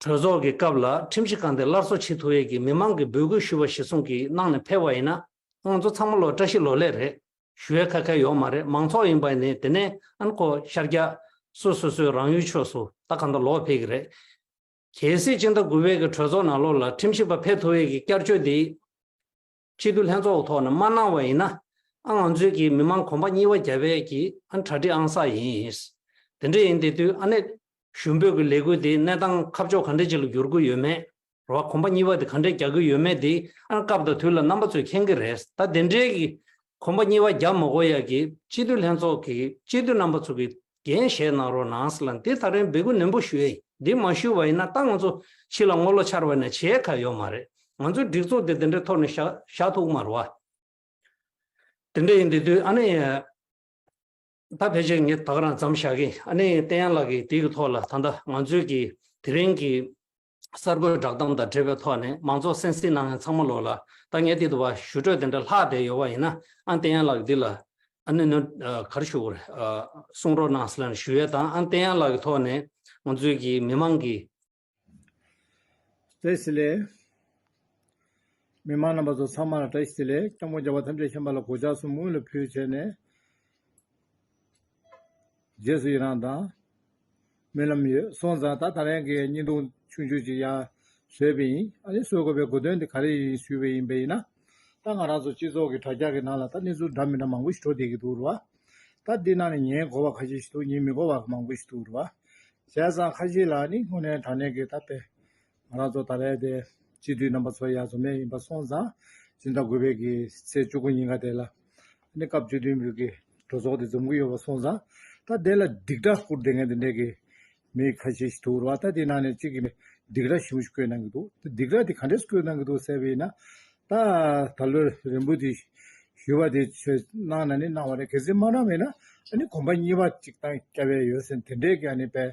གྲོས་ཚོགས་ཀྱི་སྐབས་ལ་ཁྲིམས་ཞིབ་ཁང་དེ་སླར་གསོ་བྱེད་ཐུབ་ཡས་ཀྱི་མི་མང་གི་འབོད་སྐུལ་ཞུ་བ་གཞི་བཟུང་གིས་གནང་ནས་ཕེབས་པ་ཡིན་ན་ང་ཚོ་ཚང་མ་ལོ་བཀྲ་ཤིས་ལོ་ལེགས་རེད་ཞུ་ཡས་ཁ་ཁལ་ཡོག་མ་རེད་མང་ཚོགས་ཡིན་པ་ནི་དེ་ནས་ཨན་ཁོ་ཤར་རྒྱ་སུ་སོ་སོའི་རང་ཡུལ་ཆོས་སུ་ད་ག་འདྲ་ལོག་ཕེབས་ཀྱི་རེད། གལ་སྲིད་སྤྱི་ཟླ་དགུ་བའི་གི་གྲོས་ཚོགས་ནང་ལོག་ལ་ཁྲིམས་ཞིབ་པ་ཕེབས་ཐུབ་ཡས་ཀྱི་བསྐྱར་བཅོས་དེ། གཅིག་ཏུ་ལྷན་ཚོགས་ཀྱི་ཐོག་ནས་མ་གནང་བ་ཡིན་ན། ཨང་ང་ཚོའི་གིས་མི་མང་གོམ་པ་གཉིས་བ་བརྒྱ་བས་ཀྱིས་ཨང་གྲ་སྒྲིག་ཨང་ས་ཡིན། དེ་འདྲ་ཡིན་དེ་དུས་ཨ་ནེ། ཞུ་འབོད་ཀྱི་ལས་འགུལ་དེའི་གནས་སྟངས་ཁ་ཕྱོགས་ག་འདྲ་ཅིག་ལ་འགྱུར་གྱི་ཡོད་མེད། ར་བ་གོམ་པ་གཉིས་བ་དེ་ག་འདྲས་རྒྱག་གི་ཡོད་མེད་དེ་ཨང་སྐབས་དང་དུས་ལ་རྣམ་པ་ཚོས་མཁྱེན་གྱི་རེད་ད་དེ་འདྲའི་གིས་གོམ་པ་གཉིས་བ་བརྒྱ་མ་གོ་ཡ་གིས་གཅིག་ཏུ་ལྷན་ཚོགས་ཀྱིས་གཅིག་ཏུ་རྣམ་པ་ཚོ་གིས་འགན་བཞེས་གནང་རོགས་གནང་ལ་འདི་ལྟར་རན་འབད་སྐུལ་ནན་པོ་ཞུ་ཨེ་འདི་མ་ཞུ་བ་ཡིན་ན་ད་ང་ཚོ་ཕྱི་ལ་སྔོ་ལོ་ཆར་བ་ནས་བྱེད་ཁ་ཡོད་མ་རེད་ང་ཚོའི་སྒྲིག་ཚོགས་འདི་འདི་འདྲའི་ཐོག་ནས་ཞག་ཐུག་མར་བ། དེ་འདྲ་ཡིན་དེ་དུས་ཨ་ནེ། ད་ཕལ་ཆེར་ངས་ད་ག་རང་འཛམ་བཞག་གིན་ཨ་ནེ་བསྟན་ཡང་ལགས་ཀྱིས་དེ་གི་ཐོག་ལ་ད་ལྟ་ང་ཚོའི་གིས་དེ་རིང་གི་གསར་འགོད་བསྒྲགས་གཏམ་དང་འབྲེལ་བའི་ཐོག་ནས་མང་ཚོགས་སེམས་གསིང་གནང་ཡང་ཚང་མ་ལོག་ལ་ད་ངས་འདི་དུ་བ་ཞུ་འཕྲོས་དེ་འདྲ་ལྷག་བསྡད་ཡོད་བ་ཡིན་ན་ཨ་བསྟན་ཡང་ལགས་འདི་ལ་ཨ་ནུ་ནུ་གར་ཞུ་བར་གསུང་རོགས་གནང་སླན་ཞུ་ཡས་དང་ཨ་བསྟན་ཡང་ལགས་ཀྱི་ཐོག་ནས་ང་ཚོའི་གི་མི་མང་གི། བཀྲ་ཤིས་ལེ། མི་མང་རྣམ་པ་ཚོ་ཚང་མ་ལ་བཀྲ་ཤིས་ལེ་སྐྱབས་མགོན་རྒྱལ་བ་ཐམས་ཅད་མཁྱེན་པ་ལ་གོ་ཆག་གསུམ་སྔོན་ལ་ཕུལ་བྱས་ནས་རྗེས་སུ་ཡི་རང་དང། རྨི་ལམ་ཡོད་སོང་ཙང་ད་ད་རན་གི་སྙིང་སྟོང་ཆུང་ཆུང་ཅིག་ཡང་བཟོས་པས་ཡིན་ཨ་ནི་བཟོས་དགོས་པའི་དགོས་དོན་དེ་ག་རེ་ཡིན་ཞུས་པས་ཡིན་པས་ཡིན་ན། ད་ང་རང་ཚོ་སྤྱི་ཚོགས་ཀྱི་དྲ་རྒྱ་གི་ནང་ལ་ད་གནས་ཚུལ་འདྲ་མི་འདྲ་མང་པོ་ཞིག་བྲོ་བསྡད་ཀྱི་འདུག་རུ་བ། ད་འདི་ནང་ནས་ཉན་གོ་བ་ཁ་ཤས་ཤིག་འདུག་ཉན་མི་གོ་བ་མང་པོ་ཞིག་འདུག་རུ་བ། བྱས་ཙང་ཁ་ཤས་ལ་ནི་དངོས་གནས་དྲ་གནས་ཀྱི་ད་དཔེ། ང་རང་ཚོ་ད་རེས་དེ་སྤྱི་འཐུས་རྣམ་པ་ཚོ་ཡར་འཛོམས་ནས་ཡིན་པ་སོང་ཙང་སྤྱི་ཟླ་དགུ་པའི་གི་ཚེས་བཅུ་དགུ་ཉིན་ག་དེ་ལ་ནས་སྐབས་བཅུ་བདུན་པའི་གི་གྲོས་ཚོགས་དེ་འཛོམས་གི་ཡོད་པ་སོང་ཙང་ད་དེ་ལ་སྡིག་སྒྲ་བསྐུར་བསྡད་མཁན་དེ་འདྲས་གི་མི་ཁ་ཤས་ཤིག་འདུག་རེད་བ་ད་དེའི་ནང་ནས་གཅིག་གི་ནས་སྡིག་སྒྲ་ཞིམ་པོ་ཞིག་བསྐུལ་གནང་གི་འདུག་དེ་སྡིག་སྒྲ་དེ་ག་འདྲས་སུ་བསྐུལ་གནང་གི་འདུག་ཟེར་བ་ཡིན་ན་ད་ད་ལོའི་རིང་པོ་དེ་ཞུ་བ་དེ་ཆོས་གནང་ན་ནི་གནང་བ་རེད་གལ་སྲིད་མ་གནང་བས་ན་ཨ་ནི་གོམ་པ་གཉིས་པ་གཅིག་གཏང་རྐྱ་བས་ཡོད་ཟེར་དེ་འདྲས་གི་ཨ་ནི་པས།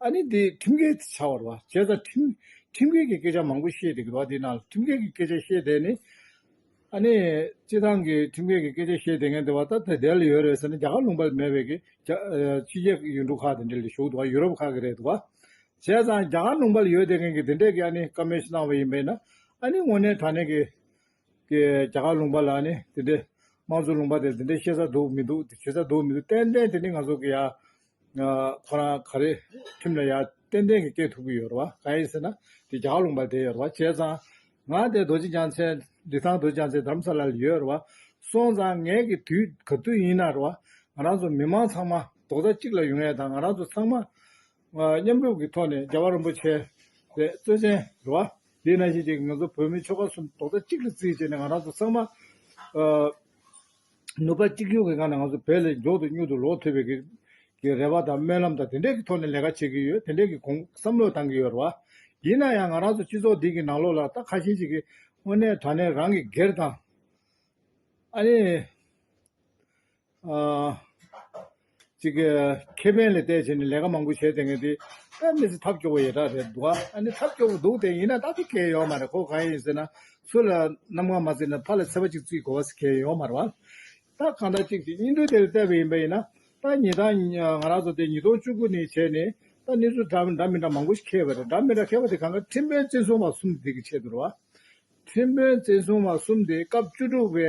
ཨ་ནི་དེ་ཁྲིམས་འགལ་བྱ་བར་བ་བྱས་ཙང་ཁྲིམས་ཁྲིམས་འགལ་གྱི་སྐད་ཆ་མང་པོ་བཤད་འདུག་གི་བ་དེ་ན་ཁྲིམས་འགལ་གྱི་སྐད་ཆ་བཤད་བསྡད་ནས་ཨ་ནི་སྤྱི་བཏང་གི་ཁྲིམས་འགལ་གྱི་སྐད་ཆ་བཤད་བསྡད་མཁན་དེ་བ་ད་དེ་དེ་ལ་ཡོད་རེད་ཟེར་ན་རྒྱ་གར་ལུང་པ་ལ་མེད་པའི་གི་རྒྱ་ཕྱི་རྒྱལ་ཡུལ་གྲུ་ཁག་དེ་འདྲ་ལ་བཞུགས་འདུག་བ་ཡུ་རོབ་ཁག་གི་རེད་འདུག་བ། བྱས་ཙང་རྒྱ་གར་ལུང་པ་ལ་ཡོད་བསྡད་མཁན་གི་དེ་འདྲས་གི་ཨ་ནི་ཀ་མེ་ཤི་གནང་བ་ཡིན་པས་ན་ཨ་ནི་དངོས་གནས་ད་ནས་གི་གི་རྒྱ་གར་ལུང་པ་ལ་ཨ་ནི་དེ་འདྲས་དམངས་གཙོ་ལུང་པ་དེ་ལ་དེ་འདྲས་བཤད་ས་འདུག་མི་འདུག་བྱེད་ས་འདུག་མི་འདུག་ཏན་ཏན་དེ་ནི་ང་ཚོ་གི་ཡ། ཁོ་རང་ག་རེ་ཁྲིམས་ལ་ཡར་ཏན་ཏན་གྱི་སྐད་ཐུབ་ཀྱི་ཡོད་རེད་བ་ག་ཡིན་ཟེར་ན་དེ་རྒྱ་གླུང་པ་དེ་ཡོད་རེད་བ་བྱས་ཙང་ང་དེ་རྡོ་རྗེ་འཆང་ཆེན་ལི་ཐང་རྡོ་རྗེ་འཆང་ཆེན་དམ་ས་ལ་ལ་ཡོད་རེད་བ་སོང་ཙང་ངེད་ཀྱི་དུས་ག་དུས་ཡིན་ན་རེད་བ་ང་རང་ཚོ་མི་མང་ཚང་མ་རྡོག་རྩ་གཅིག་ལ་ཡོང་ཡས་དང་ང་རང་ཚོ་ཚང་མ་མཉམ་རུབ་ཀྱི་ཐོག་ནས་རྒྱལ་བ་རིན་པོ་ཆེ་རེད་གཙོས་ཆེན་རེད་བ་དེ་ན་ཞིག་ཅིག་ངེད་ཚོ་བོད་མི་ཆོལ་ཁ་གསུམ་རྡོག་རྩ་གཅིག་ལ་བརྩིས་བྱས་ནས་ང་རང་ཚོ་ཚང་མ་ནུབ་པ་གཅིག་གྱུར་གྱི་ངང་ནས་ང་ཚོ་བལ་ལས་མགྱོགས་དུ་སྙུག་ཏུ་ལོག་ཐུབ་པའི་གི་རེ་བ་དང་སྨོན་ལམ་དང་དེ་འདྲའི་གི་ཐོག་ནས་ལས་ཀ་བྱེད་ཀྱི་ཡོད་དེ་འདྲའི་གི་གོང་བསམ་བློ་བཏང་གི་ཡོད་རེད་བ། ཡིན་ན་ཡང་ང་རང་ཚོ་སྤྱི་ཚོགས་འདི་གི་ནང་ལོག་ལ་ད་ཁ་ཞེ་གཅིག་གི་དངོས་གནས་དྲ་གནས་རང་གི་སྒེར་དང། ཨ་ནི། ཨ། གཅིག་ཁེ་ཕན་ལ་བལྟས་བྱས་ནས་ལས་ཀ་མང་པོ་བྱས་དེ་སྔའི་དེ་ཨ་མི་ཚེ་ཐབས་སྐྱོ་བོ་ཡོད་དྲག་རེད་འདུག་ཨ་ནི་ཐབས་སྐྱོ་བོ་འདུག་དེ་ཡིན་ན་ད་དུ་གལ་ཡོད་མ་རེད་ཁོ་གང་ཡིན་ཟེར་ན་སུ་ལ་རྣམ་ངང་མ་བརྩིས་ན་ཕ་ལ་ཚེ་བ་གཅིག་བརྩིས་དགོས་བ་ཟེར་གལ་ཡོད་མ་རེད་བ། ད་གང་ལྟར་གཅིག་གིས་སྙིང་དོན་དེ་ལ་བལྟས་པ་ཡིན་པ་ཡིན་ན་ད་ཉིན་ད་ང་རང་ཚོ་དེ་ཉིས་སྟོང་བཅུ་དགུ་ནས་བྱས་ནས་ད་གནས་ཚུལ་འདྲ་མི་འདྲ་མང་པོ་ཞིག་ཁེལ་བ་རེད་འདྲ་མི་འདྲ་ཁེལ་བ་དེ་གང་དགའ་ཁྲིམས་དཔོན་བཙན་བཟུང་བ་གསུམ་དེ་གི་ཆེད་དུ་རེད་བ། ཁྲིམས་དཔོན་བཙན་བཟུང་བ་གསུམ་དེ་སྐབས་བཅུ་དྲུག་པའི་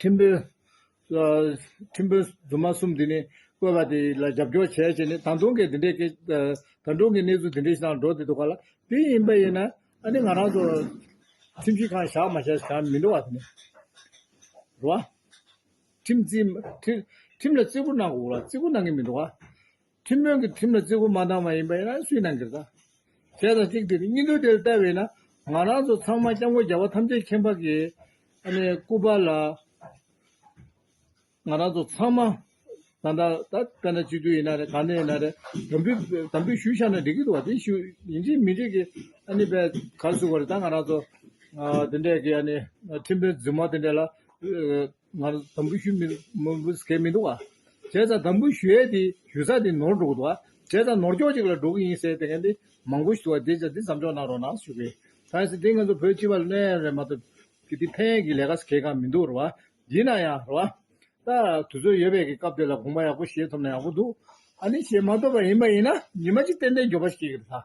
ཁྲིམས་དཔོན། ཁྲིམས་དཔོན་རྫུན་མ་གསུམ་འདི་ནི་བཀོད་པ་དེ་ལ་རྒྱབ་སྐྱོར་བྱས་བྱས་ནས་ད་དུང་གི་འདི་འདྲའི་ད་དུང་གི་གནས་ཚུལ་འདི་འདྲའི་སྟངས་འགྲོ་བསྡད་འདུག་ག་ལ་དེ་ཡིན་པ་ཡིན་ན་ཨ་ནི་ང་རང་ཚོ་ཁྲིམས་ཞིབ་ཁང་བཞག་མ་བཞག་བཞག་མི་འགྲོ་བ་དེ་ནི་རེད་བ། ཁྲིམས་ལ་བརྩི་བཀུར་གནང་དགོས་ལ་བརྩི་བཀུར་གནང་གི་མི་འགྲོ་བ། ཁྲིམས་དཔོན་གྱིས་ཁྲིམས་ལ་བརྩི་བཀུར་མ་བཏང་བ་ཡིན་པ་ཡིན་ན་སུས་གནང་གི་རེད། ཟས་དང་གཅིག་སྟེར་གཉིས་འདུག་དེ་ལ་བལྟ་བས་ན་ང་རང་ཚོ་ཚང་མ་སྐྱབས་མགོན་རྒྱལ་བ་ཐམས་ཅད་མཁྱེན་འཕགས་ཀྱི་སྐུ་པར་ལ་ང་རང་ཚོ་ཚང་མ་ད་ལྟ་ད་དཔེ་ན་སྤྱི་འཐུས་ཡིན་ན་རེད་གང་ནས་ཡིན་ན་རེད་དམ་འབུལ་དམ་འབུལ་ཞུ་ཤག་ན་འགྲིག་གི་འདུག་བ་དེ་ཞུ་ཡིན་གཅིག་མིན་གཅིག་གི་ཨ་ནི་བས་གར་བཟོ་བ་རེད་ད་ང་རང་ཚོ་དེ་འདྲས་ཀྱི་ཨ་ནི་ཁྲིམས་དཔོན་རྫུན་མ་དེ་འདྲས་ལ་ང་ལ་དམ་འབུལ་ཞུ་མཁན་མི་འདུག་བ། བྱས་ཙང་དམ་འབུལ་ཞུས་དེ་ཞུས་ཙང་དེ་ནོར་འགྲོ་གི་འདུག་བ། བྱས་ཙང་ནོར་འགྱོག་ཅིག་ལ་འགྲོ་གི་ཡིན་ཟེར་དེ་ག་དེ་མང་པོ་ཞིག་འདུག་བ། དེ་བྱས་འདི་མཚམས་འཇོག་གནང་རོགས་གནང་ཞུ་གི། ཐང་ས་དེ་ང་ཚོ་བོད་སྤྱི་བ་ལན་རེད་མ་གཏོགས། དེ་ཕན་གི་ལས་ཀ་ཟེར་གང་མི་འདུག་རེད་བ། ཡིན་ན་ཡང་རེད་བ། ད་དུས་ཚོད་ཡོད་པའི་གི་སྐབས་དེ་ལ་དགོངས་པ་ཡག་པོ་བཞེས་ཐུབ་ན་ཡག་པོ་འདུག། ཨ་ནི་བཞེས་མ་ཐུབ་པ་ཡིན་པ་ཡིན་ན་ཉི་མ་གཅིག་ཏན་ཏན་འགྱོད་པ་ཞིག་ཡིན་གི་རེད་ད།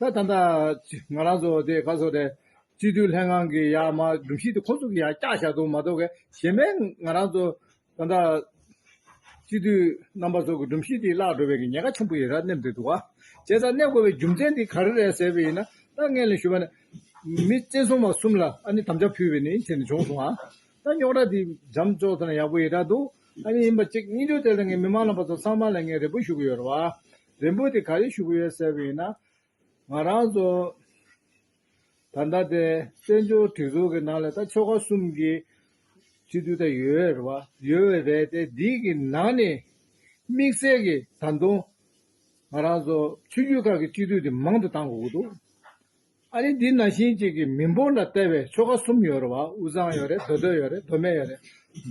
ད་ད་ད། ང་རང་ཚོ་དེ་ག་ཚོད་རེད། སྤྱི་འཐུས་ལྷན་ཁང་གི་ཡ་མ་སྒྲུབ་གཞི་དེ་ཁོ་ཚོ་གི་ཡ་བཀྱག་བཞག་འདུག་མ་གཏོགས་ག་གཞན་པའི་ང་རང་ཚོ་ད་ད། སྤྱི་འཐུས་རྣམ་པ་ཚོ་གི་སྒྲུབ་གཞི་དེ་བརླག་འགྲོ་བའི་གི་ཉེན་ཁ་ཆེན་པོ་ཡི་ར་སྣེམས་འདུག་འདུག་ག། བྱས་ཙང་སྣེ་དགོས་པའི་རྒྱུ་མཚན་དེ་ག་རེ་རེད་ཟེར་བའི་ཡིན་ན་ད་ངས་ལན་ཞུ་བ་ནི། མི་བཙན་བཟུང་བ་གསུམ་ལ་ཨ་ནི་དམ་བཅའ་ཕུལ་བའི་ནི་ཡིན་ཚེ་ནི་བྱུང་སོང་ཨ། ད་རྙོག་དྲ་དེ་འཇམ་ཆོག་ཚེ་ན་ཡག་པོ་ཡི་ར་འདུག་ཨ་ནི་ཡིན་པ་གཅིག་གཉིས་ཆོག་དེ་ལ་ངས་མི་མང་རྣམ་པ་ཚོ་ཚང་མ་ལ་ངས་རེ་སྤུལ་ཞུ་གི་ཡོད་ར་བ། རིན་པོ་ཆེ་ག་རེ་བཞུགས་ཡོད་ཟེར་བ་ཡིན་ན། ང་རང་ཚོ་ད་ལྟ་དེ་བཙན་བྱོལ་སྒྲིག་འཛུགས་ཀྱི་ནང་ལ་ད་ཆོལ་ཁ་གསུམ་གྱི་སྤྱི་འཐུས་ད་ཡོད་རེད་བ། ཡོད་བས་རེད་དེ་འདིའི་གི་ནང་ནས་དམིགས་བསལ་གྱི་ད་དུང་ང་རང་ཚོ་ཆོས་རྒྱུད་ཁག་གི་སྤྱི་འཐུས་དེ་མང་དུ་བཏང་དགོས་ཀྱི་འདུག་ཨ་རི་འདི་ན་ཤིང་གཅིག་གིས་མི་འབོར་ལ་བལྟ་བའི་ཆོ་ག་གསུམ་ཡོད་རེད་བ་དབུ་གཙང་ཡོད་རེད་མདོ་སྟོད་ཡོད་རེད་མདོ་སྨད་ཡོད་རེད།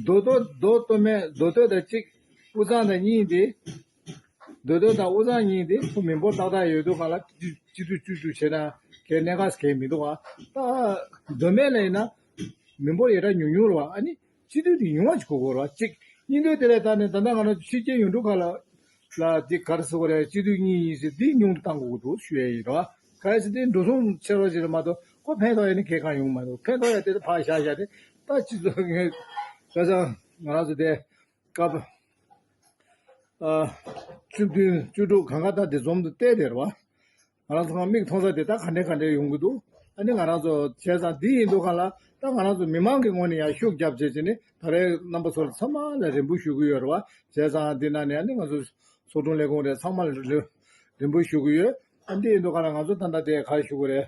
མདོ་སྟོད་མདོ་སྟོད་སྨད་མདོ་སྟོད་དང་གཅིག་དབུ་གཙང་དང་གཉིས་ཏེ། མདོ་སྟོད་དང་དབུ་གཙང་གཉིས་ཏེ་ཁོ་མི་འབོར་ཏག་ཏག་ཡོད་འདུག་ག་ལ་གཅིག་སྡུད་བཅུ་སྡུད་བྱེད་ན་གལ་གནད་ག་ས་གལ་མི་འདུག་བ། མདོ་སྨད་ལ་ཡིན་ན་མི་འབོར་ཡེ་གྲགས་ཉུང་ཉུང་རེད་བ་ཨ་ནི། སྤྱི་འཐུས་དེ་ཡུང་བ་ཞིག་གོ་དགོས་རོགས་གཅིག་གཉིས་འདོད་དེ་ལས་ལྟ་ནས་ད་ལྟ་ང་རང་ཆོས་རྒྱལ་ཡུང་འབྲུག་ཁ་ལགས་ལ་དེ་ག་རེ་ཟེར་བ་རེད་སྤྱི་འཐུས་གཉིས་ཡིན་ཟེར་དེ་ཉུང་དུ་བཏང་དགོས་ཀྱི་འདུག་ཞུ་ཡ་ཡིན་རོགས་ཨ་ག་ས་དེ་འགྲོ་སོང་ཆེ་རོགས་ཞིག་རེད་མ་གཏོགས་ཁོ་ཕན་ཐོག་ཡ་ནི་གལ་གང་ཡོང་གི་མ་འདུག་ཕན་ཐོག་ཡ་དེ་ལ་ཕག་ཞག་བཞག་དེ་ལྟ་སྤྱི་ཚོགས་ངས་ཁ་སང་ང་རང་ཚོ་དེ་སྐབས་བཅུ་བདུན་བཅུ་དྲུག་གང་ག་ལྟར་དེ་འཛོམས་འདུག་བལྟས་དེ་རེད་བ། ང་རང་ཚོ་མིག་མཐོང་ས་དེ་ད་ག་འདྲའི་ག་འདྲའི་ཡོང་གི་འདུག་ཨ་ནི་ང་རང་ཚོ་བྱས་ཙང་འདི་ཡིན་འདུག་ག་ལ་ད་ང་རང་ཚོ་མི་མང་གི་ངོས་ནས་ཡང་ཤུགས་རྒྱབ་བྱེད་ཅེས་ནི་ད་རེས་རྣམ་པ་ཚོ་ལ་ཚང་མ་ལ་རེ་འབུལ་ཞུ་གི་ཡོད་རེད་བ། བྱས་ཙང་འདི་ན་ནི་ཨ་ནི་ང་ཚོ་ཚོགས་དྲུང་ལས་ཁུངས་རེ་ཚང་མ་ལ་རེ་འབུལ་ཞུ་གི་ཡོད། ཨ་འདི་ཡིན་འདུག་ག་ལ་ང་ཚོ་ད་ལྟ་དེ་གར་བཞུགས་གི་རེད།